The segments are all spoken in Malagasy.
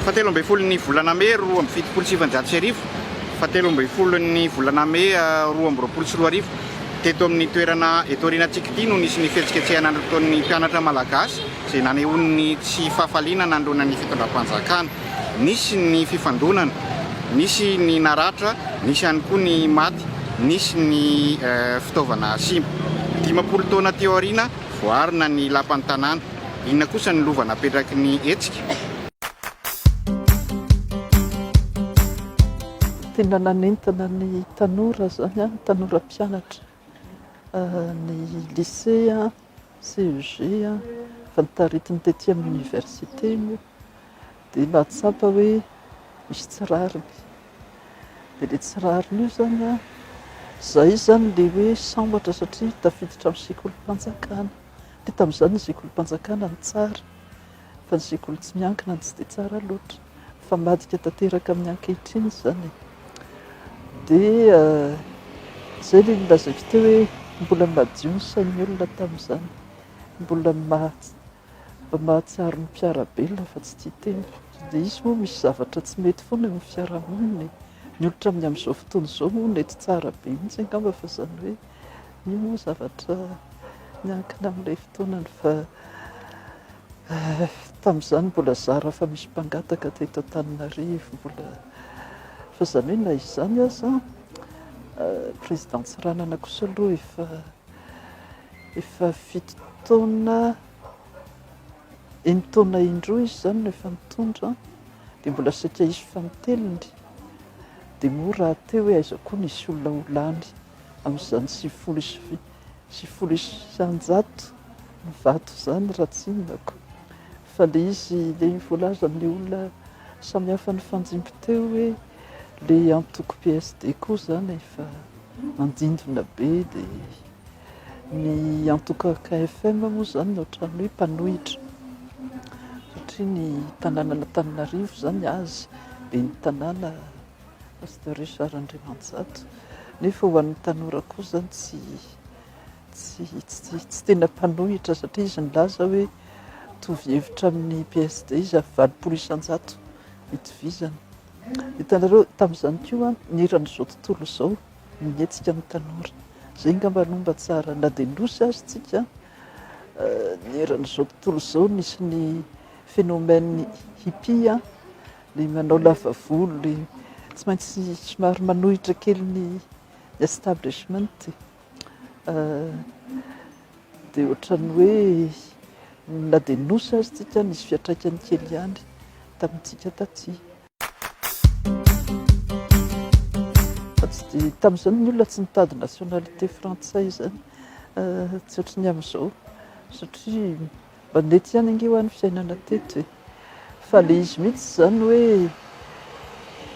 Fahatelo ambin'ny folon'ny volana Mey roa amby fitopolo sy sivanjato sy arivo, fahatelo ambin'ny folon'ny volana Mey ah, roa amby roapolo sy roa arivo, teto amin'ny toerana eto aorianantsika ity no nisy ny fihetsiketsehana nataon'ny mpianatra malagasy izay nanehoany ny tsy fahafaliana nanoloana ny fitondram-panjakana. Nisy ny fifandonana, nisy ny naratra, nisy ihany koa ny maty, nisy ny fitaovana simba. Dimampolo taona teo aoriana, voaarina ny lapan'ny tanàna. Inona kosa no lova napetraky ny hetsika? Tena nanentana ny tanora izany, ny tanora mpianatra ny lisea. CEG, efa nitaritiny tety amin'ny Université moa dia nahatsapa hoe misy tsy rariny. Dia ilay tsy rariny io izany, izahay izany ilay hoe sambatra satria tafiditra amin'ny sekolim-panjakana. Dia tamin'izany ny sekolim-panjakana no tsara. Fa ny sekoly tsy miankina tsy dia tsara loatra, fa ambadika tanteraka amin'ny ankehitriny izany e! Dia izay ilay nolazaiko teo hoe mbola madio ny sain'ny olona tamin'izany, mbola mahatsiaro ny mpiara-belona fa tsy tia tena. Dia izy moa misy zavatra tsy mety foana eo amin'ny fiarahamonina e! Ny olon-traminy amin'izao fotoana izao moa nety tsara be mihitsy angamba fa izany hoe. Io moa zavatra miankina amin'ilay fotoanany fa tamin'izany mbola zara fa misy mpangataka teto Antananarivo, mbola fa izany hoe na izany aza président Tsiranana kosa aloha efa efa fito taona enin'ny taona indroa izy izany no efa nitondra dia mbola saika hisy fanintelony dia moa rahateo hoe aiza koa nisy olona ho lany. amin'izany sivifolo sy sivifolo isan-jato ny vato izany raha tsinonako fa le izy le voalaza amin'ny olona samihafa ny fanjimbo teo hoe le antoko PSD koa izany efa andindona be dia ny antoko KFM moa izany no ohatran'ny hoe mpanohitra satria ny tanànan'Antananarivo izany azy ben'ny tanàna Pasteur Richard Andriamanjato, nefa ho an'ny tanora kosa tsy tsy tsy tsy tena mpanohitra satria izy nilaza hoe mitovy hevitra amin'ny PSD izy ary valopolo isan-jato itovizany. Hitanareo tamin'izany koa ny eran'izao tontolo izao no mihetsika ny tanora. Izay angamba no mba tsara na dia nosy azy tsika ny eran'izao tontolo izao nisy ny phénomène hippie Ilay manao lava volo, ilay tsy maintsy somary manohitra kely ny establishment dia ohatran'ny hoe na dia nosy azy tsika nisy fiatraikany kely ihany tamintsika taty. Fa tsy dia tamin'izany ny olona tsy nitady nationalité frantsay izany tsy ohatry ny amin'izao satria Mandeha tsy any ange hoa ny fiainana teto e! Fa le izy mihitsy izany hoe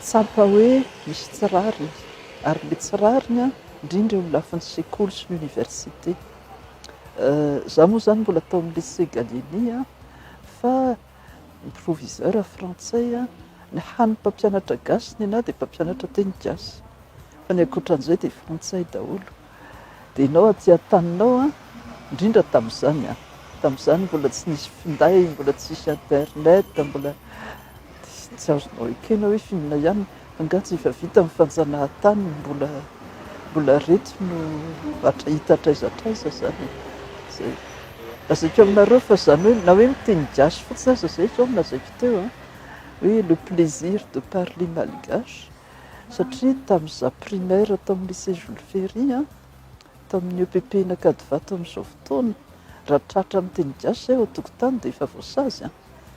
tsapa hoe misy tsy rariny, ary le tsy rariny an, indrindra eo amin'ny lafiny sekoly sy ny université. Za moa izany mbola tao amin'ny lycée Gallieni an, fa ny proviseur frantsay an, ny hany mpampianatra gasy nenah dia mpampianatra teny gasy, fa ny ankoatran'izay dia frantsay daholo. dia ianao aty an-taninao an, indrindra tamin'izany an, tamin'izany mbola tsy nisy finday, mbola tsy nisy internet, mbola dia tsy azonao ekena hoe f'inona ihany, angaha tsy efa vita ny fanjanahantany, mbola mbola reto no hatra hita hatraiza hatraiza izany e, izay. Lazaiko aminareo fa izany hoe na hoe miteny gasy fotsiny aza izay izao no lazaiko teo an, hoe le plaisir de parler malgache. satria tamin'ny za primaire tao amin'ny lycée Jules Ferry an, tamin'ny EPP Anakadivato amin'izao fotoana, raha tratra amin'ny teny gasy izay ao an-tokotany dia efa voasazy an,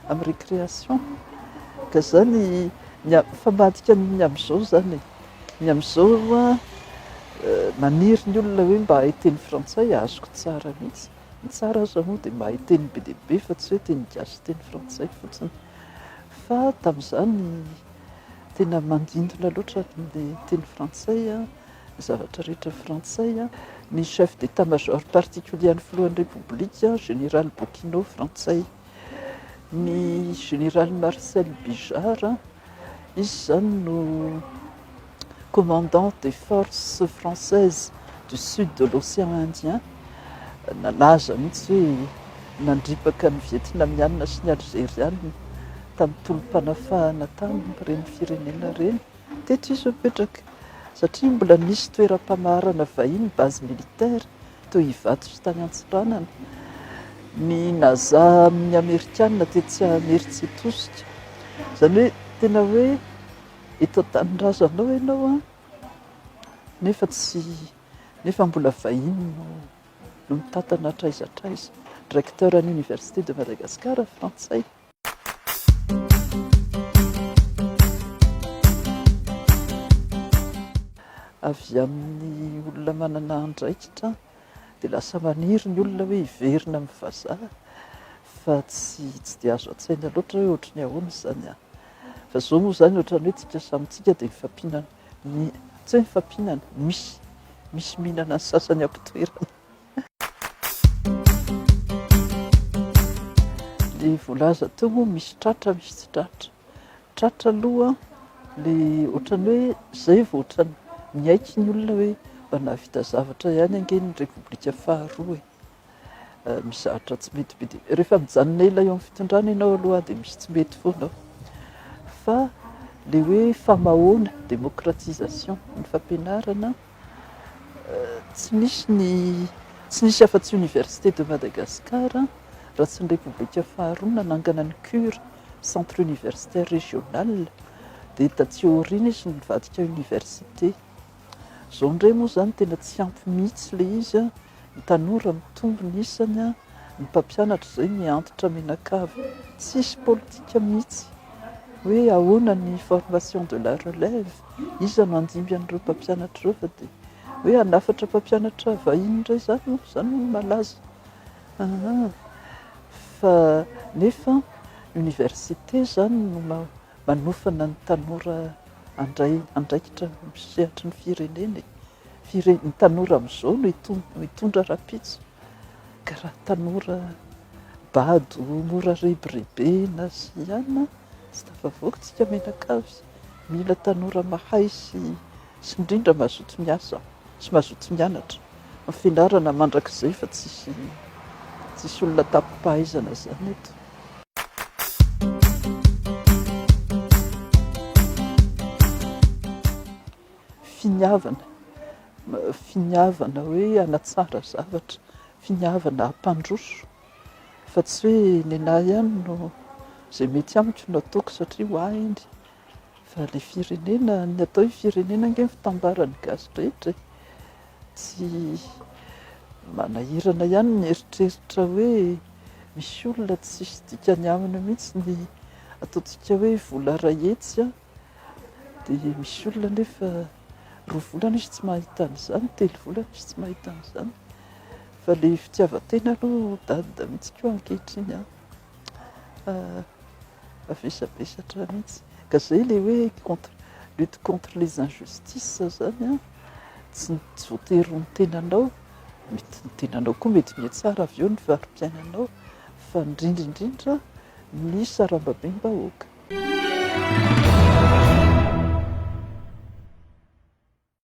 amin'ny récréation, ka izany ny a, fa madika ny amin'izao izany e, ny amin'izao an, maniry ny olona hoe mba hahay teny frantsay, azoko tsara mihitsy, ny tsara aza moa dia mahay teny be dia be fa tsy hoe teny gasy sy teny frantsay fotsiny, fa tamin'izany, Tena manintona loatra ny teny frantsay, ny zavatra rehetra frantsay. Ny chef d'état major particulier an'ny filohan'ny Repoblika, général Bokino, frantsay. Ny général Marcel Bijard, izy izany no commandant des forces françaises du sud de l'océan Indien, nalaza mihitsy hoe nandripaka ny Vietnamiana sy ny Alzeriana tamin'ny tolom-panafahana tamin'ireny firenena ireny. Teto izy no nipetraka satria mbola nisy toeram-pamaharana vahiny, base militaire, toy Ivato sy tany Antsiranana. Ny Naza amin'ny Amerikana tetsy Ameritsy Tosika. Izany hoe tena hoe Eto an-tanindrazanao ianao an, nefa tsy, nefa mbola vahiny no no mitantana hatraiza hatraiza. Recteur an'ny Université de Madagascar frantsay. Avy amin'ny olona manana andraikitra dia lasa maniry ny olona hoe hiverina amin'ny vazaha fa tsy tsy dia azo an-tsaina loatra hoe ohatry ny ahoana izany an! fa izao moa izany ohatran'ny hoe tsika samy tsika dia mifampihinana ny tsy hoe mifampihinana misy misy mihinana ny sasany am-pitoerana dia voalaza teo moa misy tratra misy tsy tratra Tratra aloha le ohatran'ny hoe zay vao ohatran'ny miaiky ny olona hoe mba nahavita zavatra ihany ange ny repoblika faharoa e! mizatra tsy mety be dia rehefa mijanona ela eo amin'ny fitondrana ianao aloha dia misy tsy mety foana ao fa le hoe famahoana démocratisation ny fampianarana tsy misy ny tsy nisy afa-tsy université de Madagascar raha tsy ny repoblika faharoa nanangana ny cure Centre Universitaire Régional, dia taty aoriana izy no nivadika Université. Izao indray moa izany tena tsy ampy mihitsy ilay izy an! Ny tanora mitombo ny isany an! Ny mpampianatra izay mihantitra mianakavy! Tsisy politika mihitsy hoe ahoana ny formation de la relève? Iza no handimby an'ireo mpampianatra ireo fa dia hoe hanafatra mpampianatra vahiny indray izany moa izany no malaza! Aa! fa nefa université izany no manofana ny tanora handray andraikitra amin'ny sehatry ny firenena e! Fire, ny tanora amin'izao no hitondra rahampitso ka raha tanora bado mora rebirebena sy ihany tsy tafavoaka tsika mianakavy, mila tanora mahay sy Sy indrindra mazoto miasa sy mazoto mianatra ny fianarana mandrakizay fa tsisy tsisy olona tapimpahaizana zany eto. Finiavana finiavana hoe hanatsara zavatra, finiavana hampandroso fa tsy hoe nenah ihany no zay mety amiko no ataoko satria ho ahy iny. Fa ilay firenena, ny atao hoe firenena ange ny fitambaran'ny gasy rehetra e! Tsy manahirana ihany ny mieritreritra hoe misy olona tsisy dikany aminy mihitsy ny ataontsika hoe vola iray hetsy an! Dia misy olona anefa roa volana izy tsy mahita an'izany, telo volana izy tsy mahita an'izany. Fa ilay fitiavan-tena aloha dada mihitsy koa ankehitriny an! Mavesabesatra mihitsy ka zay le hoe contre lutte contre les injustices zany an, tsy voatery ny tenanao, mety ny tenanao koa mety mihatsara avy eo ny fari-piainanao fa indrindra indrindra ny sarambabem-bahoaka.